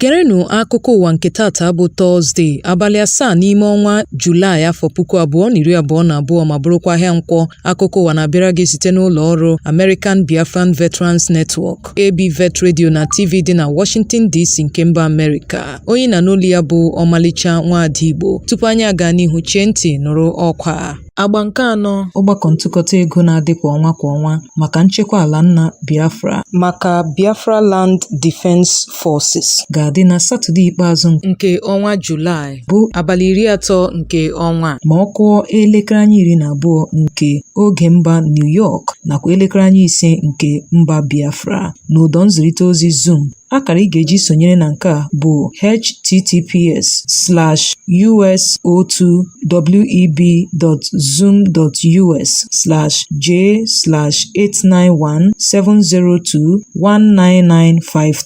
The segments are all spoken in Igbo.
Gerenụ akụkọ ụwa nke tata bụ Tọzde, abalị asaa n'ime ọnwa Julaị afọ puku abụọ na iri abụọ na abụọ ma bụrụkwa ahịa nkwọ. Akụkọ ụwa na-abịara gị site n'ụlọ ọrụ American Biafran Veterans Network. ABVET Radio na TV dị na Washington DC nke mba Amerịka. Onye ị na-anụ olu ya bụ ọmalịcha nwaada Igbo. Tupu anyị agaa n'ihu chee ntị nụrụ ọkwa a. Agba nke anọ ọgbakọ ntụkọta ego na-adị kwa ọnwa kwa ọnwa maka nchekwa ala nna Biafra maka Biafra Land Defense Forces ga-adị na Satọde ikpeazụ nke ọnwa Julaị. bụ abalị iri atọ nke ọnwa a ma ọ kụọ elekere anya iri na abụọ nke oge mba New York nakwa elekere anya ise nke mba Biafra n'ụdọ nzirịta ozi Zoom akara ị ga-eji sonyere na nke a bụ https slash us02web.zoom.us slash j slash 891 702 19953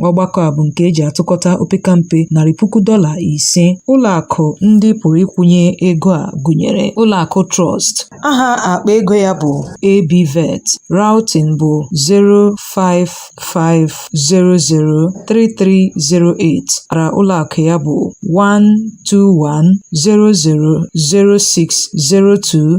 Ọgbakọ a bụ nke e ji atụkọta opekampe narị puku dọla ise. Ụlọakụ ndị pụrụ ịkwụnye ego a gụnyere Ụlọakụ Trust. Aha akpa ego ya bụ ABVET, Routing bụ 055003308, ara ụlọakụ ya bụ 121006020.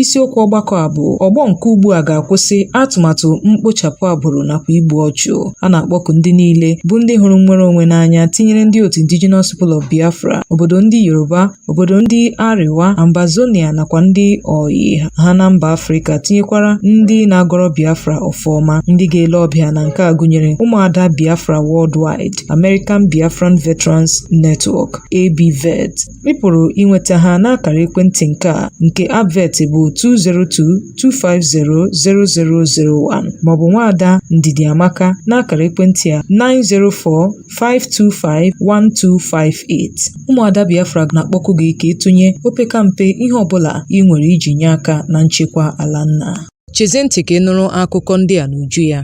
Isiokwu ọgbakọ a bụ ọgbọ nke ugbu a ga-akwụsị atụmatụ mkpochapụ agbụrụ nakwa igbu ọchụ. A na-akpọku ndị niile bụ ndị hụrụ nnwere onwe n'anya tinyere ndị otu Indigenous People of Biafra, obodo ndị Yoruba, obodo ndị Arewa, Ambazonia nakwa ndị ọyị ha na mba Afrịka tinyekwara ndị na-agọrọ Biafra ọfọ ọma. Ndị ga-ele ọbịa na nke a gụnyere ụmụada Biafra Worldwide, American Biafran Veterans Network, ABVET, Ị pụrụ inweta ha n'akara ekwentị nke a nke Abvet bụ 202-250-0001 maọbụ nwaada Ndidi Amaka n'akara ekwentị a 904-525-1258. Ụmụada Biafra na-akpọku gị ka ị tụnye opekampe ihe ọbụla ị nwere iji nye aka na nchekwa ala nna. Chezie ntị ka ị nụrụ akụkọ ndị a n'uju ya.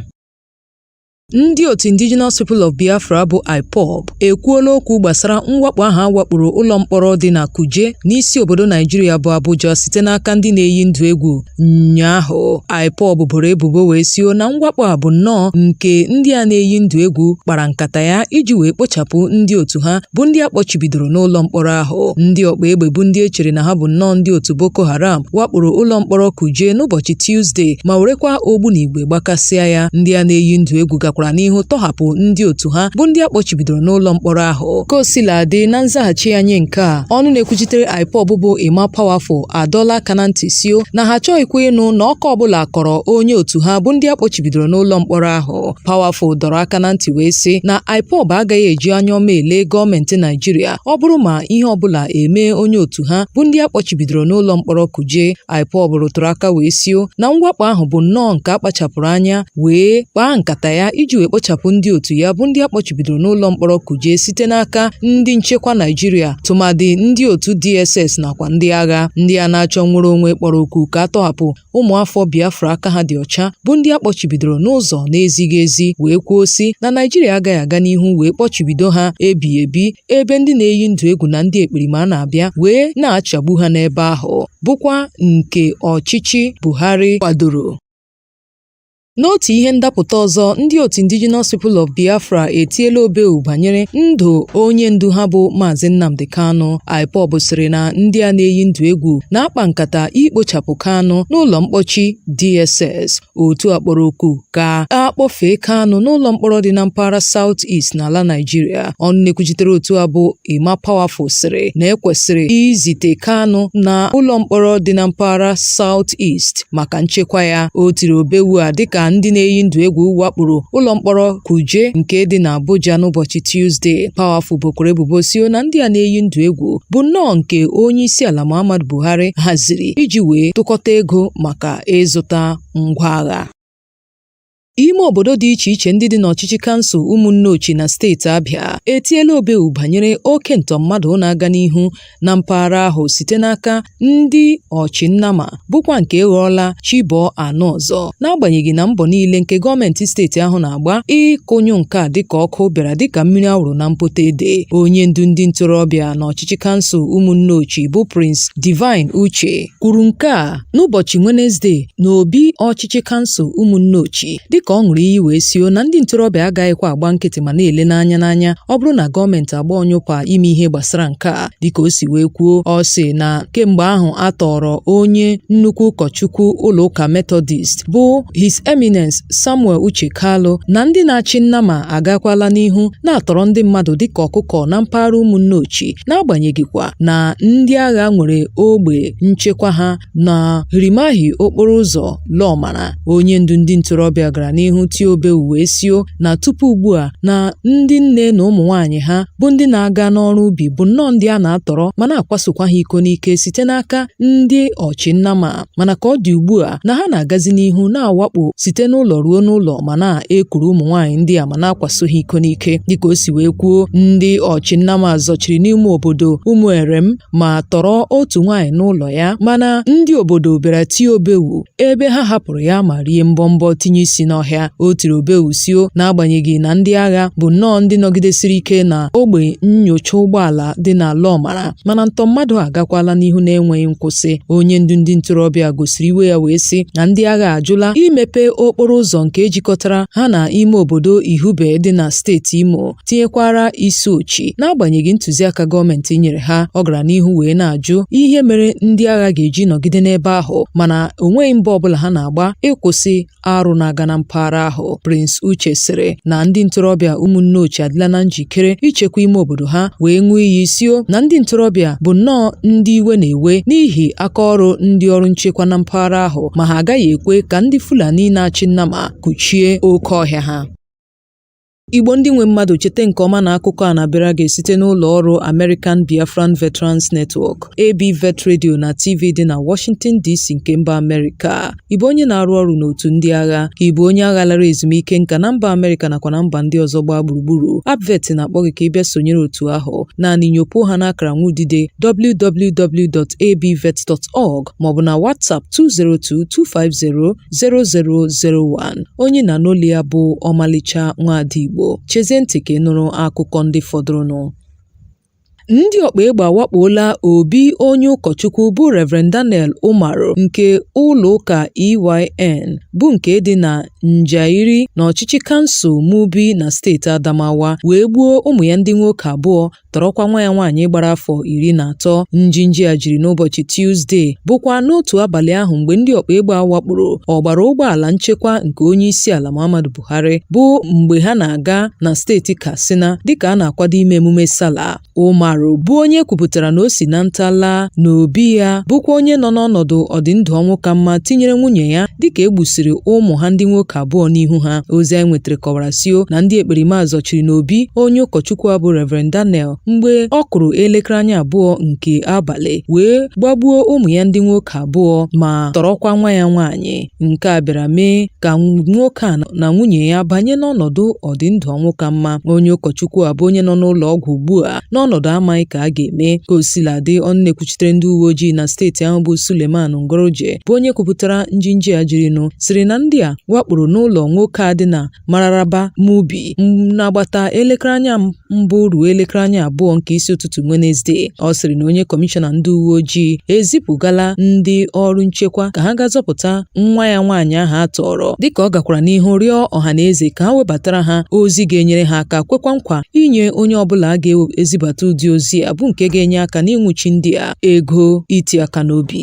Ndị otu Indigenous People of Biafra bụ IPOB ekwuola okwu gbasara mwakpo ahụ a wakporo ụlọ mkpọrọ dị na Kuje n'isi obodo Naijiria bụ Abuja site n'aka ndị na-eyi ndụ egwu ụnyaahụ IPOB boro ebubo wee sio na mwakpo a bụ nnọọ nke ndị a na-eyi ndụ egwu kpara nkata ya iji wee kpochapụ ndị otu ha bụ ndị a kpọchibidoro n'ụlọ mkpọrọ ahụ ndị ọkpa egbe bụ ndị e chere na ha bụ nnọọ ndị otu Boko Haram wakporo ụlọ mkpọrọ Kuje n'ụbọchị Tuzdee ma werekwa ogbunigwe wee gbakasịa ya ndị a na-eyi ndụ egwu gakwara n'ihu tọhapụ ndị otu ha bụ ndị a kpọchibidoro n'ụlọ mkpọrọ ahụ ka o sila dị na nzaghachi ya nye nke a ọnụ na-ekwuchitere IPOB bụ Emma Powerful adọla aka na ntị sio na ha achọghịkwa ịnụ na ọkọ ọbụla kọrọ onye otu ha bụ ndị a kpọchibidoro n'ụlọ mkpọrọ ahụ Powerful dọrọ aka na ntị wee sị na IPOB agaghị eji anya ọma ele gọọmenti Naijiria ọ bụrụ ma ihe ọbụla emee onye otu ha bụ ndị a kpọchibidoro n'ụlọ mkpọrọ kuje IPOB rụtụrụ aka wee sio na mwakpo ahụ bụ nnọọ nke a kpachapụrụ anya wee kpaa nkata ya iji wee kpochapụ ndị otu ya bụ ndị a kpọchibidoro n'ụlọ mkpọrọ Kuje site n'aka ndị nchekwa Naịjirịa tụmadị ndị otu DSS nakwa ndị agha ndị a na-achọ nnwere onwe kpọrọ oku ka a tọhapụ ụmụafọ Biafra aka ha dị ọcha bụ ndị a kpọchibidoro n'ụzọ na-ezighị ezi wee kwuo sị na Naịjirịa agaghị aga n'ihu wee kpọchibido ha ebighị ebi ebe ndị na-eyi ndụ egwu na ndị ekperima na-abịa wee na-achagbu ha n'ebe ahụ bụkwa nke ọchịchị Buhari kwadoro N'otu ihe ndapụta ọzọ, ndị otu Indigenous People of Biafra etiela obewu banyere ndụ onye ndu ha bụ Maazị Nnamdi Kanu. IPOB sịrị na ndị a na-eyi ndụ egwu na-akpa nkata ikpochapụ Kanu n'ụlọ mkpọchi DSS. otu a kpọrọ oku ka a kpọfee Kanu n'ụlọ mkpọrọ dị na mpaghara South East n'ala Naijiria ọnụ na-ekwuchitere otu a bụ Emma Powerful sịrị na e kwesịrị izite Kanu na ụlọ mkpọrọ dị na mpaghara South East maka nchekwa ya o tiri obewu a dịka ndị na-eyi ndụ egwu wakporo ụlọ mkpọrọ Kuje nke dị na Abuja n'ụbọchị Tuzdee Powerful bokwara ebubo sio na ndị a na-eyi ndụ egwu bụ nnọọ nke onye isi ala Muhammadu Buhari haziri iji wee tụkọta ego maka ịzụta ngwa agha. Ime obodo dị iche iche ndị dị n'ọchịchị kansụl Ụmụnneochi na steeti Abịa etiela obewu banyere oke ntọ mmadụ na-aga n'ihu na mpaghara ahụ site n'aka ndị ọchị nnama bụkwa nke ghọọla chi bọọ anụ ọzọ n'agbanyeghị na mbọ niile nke gọọmenti steeti ahụ na-agba ịkụnyụ nke a dịka ọkụ bịara dịka mmiri a wụrụ na mpụta ede onye ndu ndị ntorobịa n'ọchịchị kansụl Ụmụnneochi bụ Prince Divine Uche kwuru nke a n'ụbọchị Wenezdee n'obi ọchịchị kansụl Ụmụnneochi dịka ọ ṅụrụ iyi wee sio na ndị ntorobịa agaghịkwa agba nkịtị ma na-ele n'anya n'anya ọ bụrụ na gọọmenti agba ọnyụpa ime ihe gbasara nke a dịka o si wee kwuo ọ sị na kemgbe ahụ a tọrọ onye nnukwu ụkọchukwu ụlọụka Methodist bụ His Eminence Samuel Uche Kalu na ndị na-achị nnama agakwala n'ihu na-atọrọ ndị mmadụ dịka ọkụkọ na mpaghara Ụmụnneochi n'agbanyeghịkwa na ndị agha nwere ogbe nchekwa ha na hirimahi okporo ụzọ Lọmara. Onye ndu ndị ntorobịa gara n'ihu tie obewu wee sio na tupu ugbu a na ndị nne na ụmụ nwaanyị ha bụ ndị na-aga n'ọrụ ubi bụ nnọọ ndị a na-atọrọ ma na-akwasokwa ha iko n'ike site n'aka ndị ọchịnnama. mana ka ọ dị ugbu a na ha na-agazi n'ihu na-awakpo site n'ụlọ ruo n'ụlọ ma na-ekuru ụmụ nwaanyị ndị a ma na-akwaso ha iko n'ike dịka o si wee kwuo ndị ọchị nnama zọchiri n'ime obodo Ụmụerem ma tọrọ otu nwaanyị n'ụlọ ya mana ndị obodo bịara tie obewu ebe ha hapụrụ ya ma rie mbọmbọ tinye isi n'ọhịa o tiri obewu sio n'agbanyeghị na ndị agha bụ nnọọ ndị nọgidesiri ike na ogbe nyocha ụgbọala dị na Lomara mana ntọ mmadụ agakwala n'ihu na-enweghị nkwụsị onye ndu ndị ntorobịa gosiri iwe ya wee sị na ndị agha ajụla imepe okporo ụzọ nke jikọtara ha na ime obodo Ihube dị na steeti Imo tinyekwara Isuochi n'agbanyeghị ntụziaka gọọmenti nyere ha ọ gara n'ihu wee na-ajụ ihe mere ndị agha ga-eji nọgide n'ebe ahụ mana onweghị mbọ ọbụla ha na-agba ịkwụsị arụ na-aga na mpaghara ahụ Prince Uche sịrị na ndị ntorobịa Umunneochi adịla na njikere ichekwa ime obodo ha wee ṅụọ iyi sio na ndị ntorobịa bụ nnọọ ndị iwe na-ewe n'ihi aka ọrụ ndị ọrụ nchekwa na mpaghara ahụ ma ha agaghị ekwe ka ndị Fulani na-achị nnama kụchie oke ọhịa ha Igbo ndị nwe mmadụ cheta nke ọma na akụkọ a na-abịara gị site n'ụlọ ọrụ American Biafran Veterans Network, ABVET Radio na TV dị na Washington DC nke mba Amerịka. Ị bụ onye na-arụ ọrụ n'otu ndị agha, ka ị bụ onye agha lara ezumike nka na mba Amerịka nakwa na mba ndị ọzọ gbaa gburugburu, ABVET na-akpọ gị ka ị bịa sonyere otu ahụ. Naanị nyopuo ha n'akara nwudide www.abvet.org maọbụ na WhatsApp 202 250 0001 onye ị na-anụ olu ya bụ Ọmalịcha Nwaada Igbo chezie ntị ka ị nụrụ akụkọ ndị fọdụrụnụ ndị ọkpa egbe awakpoola obi onye ụkọchukwu bụ Reverend Daniel Umaru nke ụlọ ụka EYN bụ nke dị na Njairi n'ọchịchị kansụl Mubi na steeti Adamawa wee gbuo ụmụ ya ndị nwoke abụọ tọrọkwa nwa ya nwaanyị gbara afọ iri na atọ njinji a jiri n'ụbọchị Tuzdee bụkwa n'otu abalị ahụ mgbe ndị ọkpa egbe a wakporo ọgbara ụgbọala nchekwa nke onye isi ala Muhammadu Buhari bụ mgbe ha na-aga na steeti Katsina dịka a na-akwado ime emume Sala Umaru bụ onye kwupụtara na o si na nta laa n'obi ya bụkwa onye nọ n'ọnọdụ ọdịndụ ọnwụ ka mma tinyere nwunye ya dịka e gbusiri ụmụ ha ndị nwoke abụọ n'ihu ha ozi anyị nwetara kọwara sio na ndị ekperima zọchiri n'obi onye ụkọchukwu a bụ Reverend Daniel mgbe ọ kụrụ elekere anya abụọ nke abalị wee gbagbuo ụmụ ya ndị nwoke abụọ ma tọrọkwa nwa ya nwaanyị nke a bịara mee ka nwoke a na nwunye ya banye n'ọnọdụ ọdịndụ ọnwụ ka mma onye ụkọchukwu a bụ onye nọ n'ụlọ ọgwụ ugbu a n'ọnọdụ amaghị ka a ga-eme ka o sila dị ọnụ na-ekwuchitere ndị uwe ojii na steeti ahụ bụ Suleiman Nguroje bụ onye kwupụtara njinji a jirinụ sịrị na ndị a wakporo n'ụlọ nwoke a dị na Mararaba Mubi n'agbata elekere anya mbụ ruo elekere anya abụọ nke isi ụtụtụ Wenezdee. Ọ sịrị na onye kọmishọna ndị uwe ojii ezipụgala ndị ọrụ nchekwa ka ha gaa zọpụta nwa ya nwaanyị ahụ a tọọrọ dịka ọ gakwara n'ihu rịọ ọha na eze ka ha webatara ha ozi ga-enyere ha aka kwekwa nkwa inye onye ọbụla a ga-ezibata ụdị ozi a bụ nke ga-enye aka n'ịnwụchi ndị a ego iti aka n'obi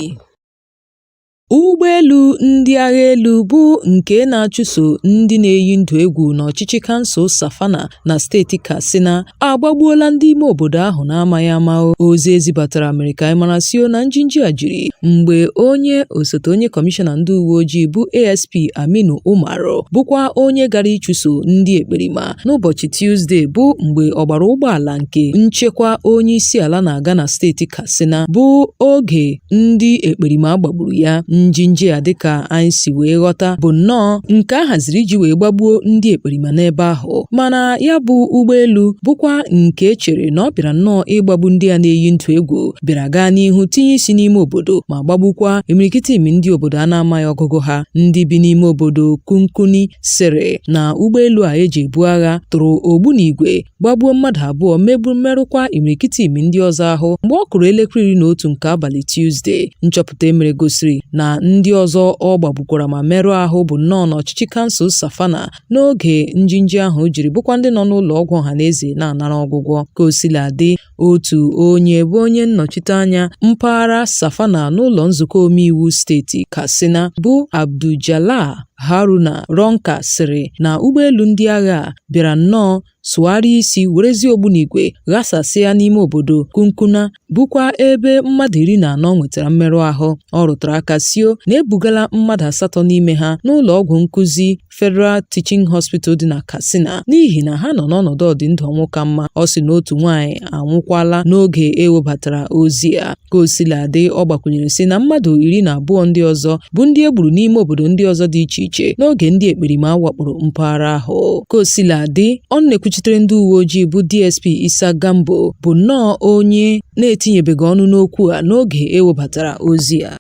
Ụgbọelu ndị agha elu bụ nke na-achụso ndị na-eyi ndụ egwu n'ọchịchị kansụl Safana na steeti Katsina agbagbuola ndị ime obodo ahụ na-amaghị ama ozi e zibatara mere ka anyị mara sio na njinji a jiri mgbe onye osote onye kọmishọna ndị uwe ojii bụ ASP Aminu Umaru bụkwa onye gara ịchụso ndị ekperima n'ụbọchị Tuzdee bụ mgbe ọgbara ụgbọala nke nchekwa onye isi ala na-aga na steeti Katsina bụ oge ndị ekperima gbagburu ya njinji a dịka anyị si wee ghọta bụ nnọọ nke a haziri iji wee gbagbuo ndị ekperima n'ebe ahụ mana ya bụ ụgbọelu bụkwa nke e chere na ọ bịara nnọọ ịgbagbu ndị a na-eyi ndụ egwu bịara gaa n'ihu tinye isi n'ime obodo ma gbagbukwa imirikiti imi ndị obodo a na-amaghị ọgụgụ ha ndị bi n'ime obodo Kunkuni sịrị na ụgbọelu a e ji ebu agha tụrụ ogbunigwe gbagbuo mmadụ abụọ megbu merụkwa imirikiti imi ndị ọzọ ahụ mgbe ọ kụrụ elekere iri na otu nke abalị Tuzdee nchọpụta e mere gosiri na ndị ọzọ ọ gbagbukwara ma merụọ ahụ bụ nnọọ n'ọchịchị kansụl Safana n'oge njinji ahụ jiri bụkwa ndị nọ n'ụlọ ọgwụ ọha na eze na-anara ọgwụgwọ ka o sila dị Otu onye bụ onye nnọchiteanya mpaghara Safana n'ụlọ nzukọ omeiwu steeti Katsina bụ Abduljalal Haruna Runka sịrị na ụgbọelu ndị agha bịara nnọọ sụgharịa isi werezie ogbunigwe ghasasịa n'ime obodo Kunkuna bụkwa ebe mmadụ iri na anọ nwetara mmerụ ahụ. Ọ rụtara aka sio na e bugala mmadụ asatọ n'ime ha n'ụlọ ọgwụ nkụzi Federal Teaching Hospital dị na Katsina n'ihi na ha nọ n'ọnọdụ ọdịndụ ọnwụ ka mma ọ sị na otu nwaanyị anwụkwala n'oge e webatara ozi a ka osiladị ọ gbakwunyere sị na mmadụ iri na abụọ ndị ọzọ bụ ndị e gburu n'ime obodo ndị ọzọ dị iche iche n'oge ndị ekperima wakporo mpaghara ahụ ka osiladị ọnụ na-ekwuchitere ndị uwe ojii bụ DSP Isa Gambo bụ nnọọ onye na-etinyebeghị ọnụ n'okwu a n'oge e webatara ozi a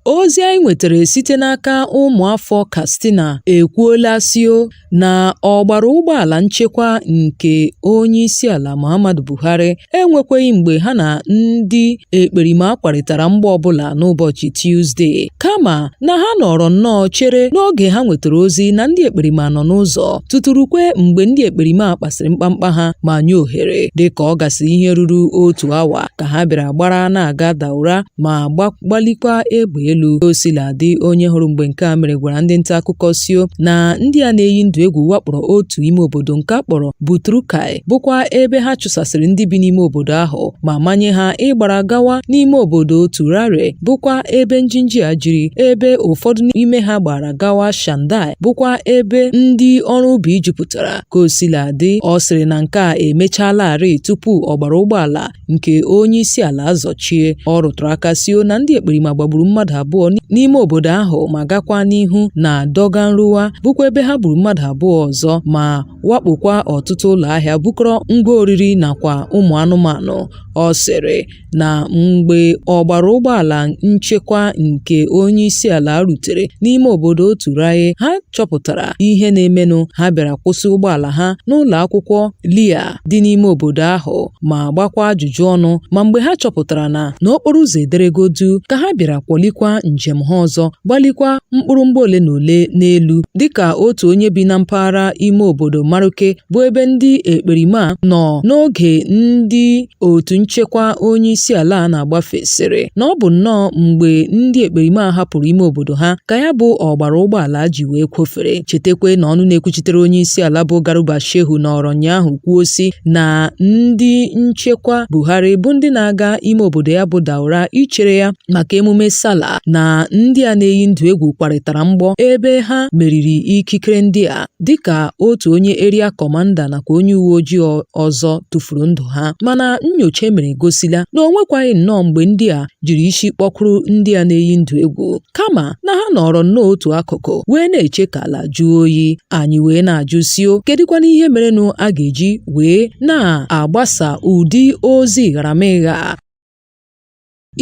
Ozi anyị nwetara site n'aka ụmụafọ Katsina ekwuola sio na ọgbara ụgbọala nchekwa nke onye isi ala Muhammadu Buhari enwekweghị mgbe ha na ndị ekperima kwarịtara mgbọ ọbụla n'ụbọchị Tuzdee, kama na ha nọrọ nnọọ chere n'oge ha nwetara ozi na ndị ekperima nọ n'ụzọ tutu rukwe mgbe ndị ekperima kpasịrị mkpamkpa ha ma nye ohere dịka ọ gasịrị ihe ruru otu awa ka ha bịara gbara na-aga Daura ma gbalikwa egbe elu o sila dị onye hụrụ mgbe nke a mere gwara ndị nta akụkọ sio na ndị a na-eyi ndụ egwu wakporo otu ime obodo nke a kpọrọ Butrukai bụkwa ebe ha chụsasịrị ndị bi n'ime obodo ahụ ma manye ha ịgbara gawa n'ime obodo Turare bụkwa ebe njinji a jiri ebe ụfọdụ n'ime ha gbara gawa Shandai bụkwa ebe ndị ọrụ ubi jupụtara Ka o sila dị, ọ sịrị na nke a emechalarị tupu ọgbara ụgbọala nke onye isi ala azọchie. Ọ rụtụrụ aka sio na ndị ekperima gbagburu mmadụ abụọ n'ime obodo ahụ ma gakwa n'ihu na Dogon Ruwa bụkwa ebe ha gburu mmadụ abụọ ọzọ ma wakpokwa ọtụtụ ụlọ ahịa bukọrọ ngwa oriri nakwa ụmụ anụmanụ. Ọ sịrị. na mgbe ọgbara ụgbọala nchekwa nke onye isi ala rutere n'ime obodo Turaye ha chọpụtara ihe na-emenụ ha bịara kwụsị ụgbọala ha n'ụlọ akwụkwọ LEA dị n'ime obodo ahụ ma gbakwa ajụjụ ọnụ ma mgbe ha chọpụtara na n'okporo ụzọ ederego duu ka ha bịara kwọlikwa njem ha ọzọ gbalikwa mkpụrụ mgbọ ole na ole n'elu dịka otu onye bi na mpaghara ime obodo Maruke bụ ebe ndị ekperima nọ n'oge ndị Otu nchekwa onye isi ala a na-agbafe sịrị na ọ bụ nnọọ mgbe ndị ekperima a hapụrụ ime obodo ha ka ya bụ ọgbara ụgbọala ji wee kwọfere chetakwa na ọnụ na-ekwuchitere onye isi ala bụ Garuba Shehu nọrọ ụnyaahụ kwuo sị na ndị nchekwa Buhari bụ ndị na-aga ime obodo ya bụ Daura ichere ya maka emume Sala na ndị a na-eyi ndụ egwu kwarịtara mgbọ ebe ha meriri ikikere ndị a dịka otu onye area commander nakwa onye uwe ojii ọzọ tụfuru ndụ ha mana nnyocha e mere gosila na o nwekwaghị nnọọ mgbe ndị a jiri isi kpọkwuru ndị a na-eyi ndụ egwu kama na ha nọrọ nnọọ otu akụkụ wee na-eche ka ala jụọ oyi anyị wee na-ajụ sio kedụkwanụ ihe merenụ a ga-eji wee na-agbasa ụdị ozi gharamịgha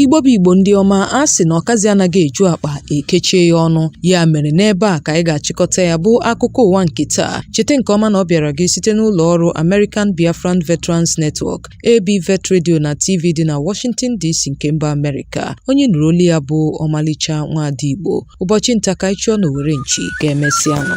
Igbo bụ Igbo ndị ọma a sị na ọkazị anaghị eju akpa ekechie ya ọnụ ya mere n'ebe a ka anyị ga-achịkọta ya bụ akụkọ ụwa nke taa cheta nke ọma na ọ bịara gị site n'ụlọ ọrụ American Biafran Veterans Network ABVET Radio na TV dị na Washington DC nke mba Amerịka onye ị nụrụ olu ya bụ Ọmalịcha Nwaada Igbo ụbọchị nta ka anyị chụọ n'owere nchi ka e mesịanụ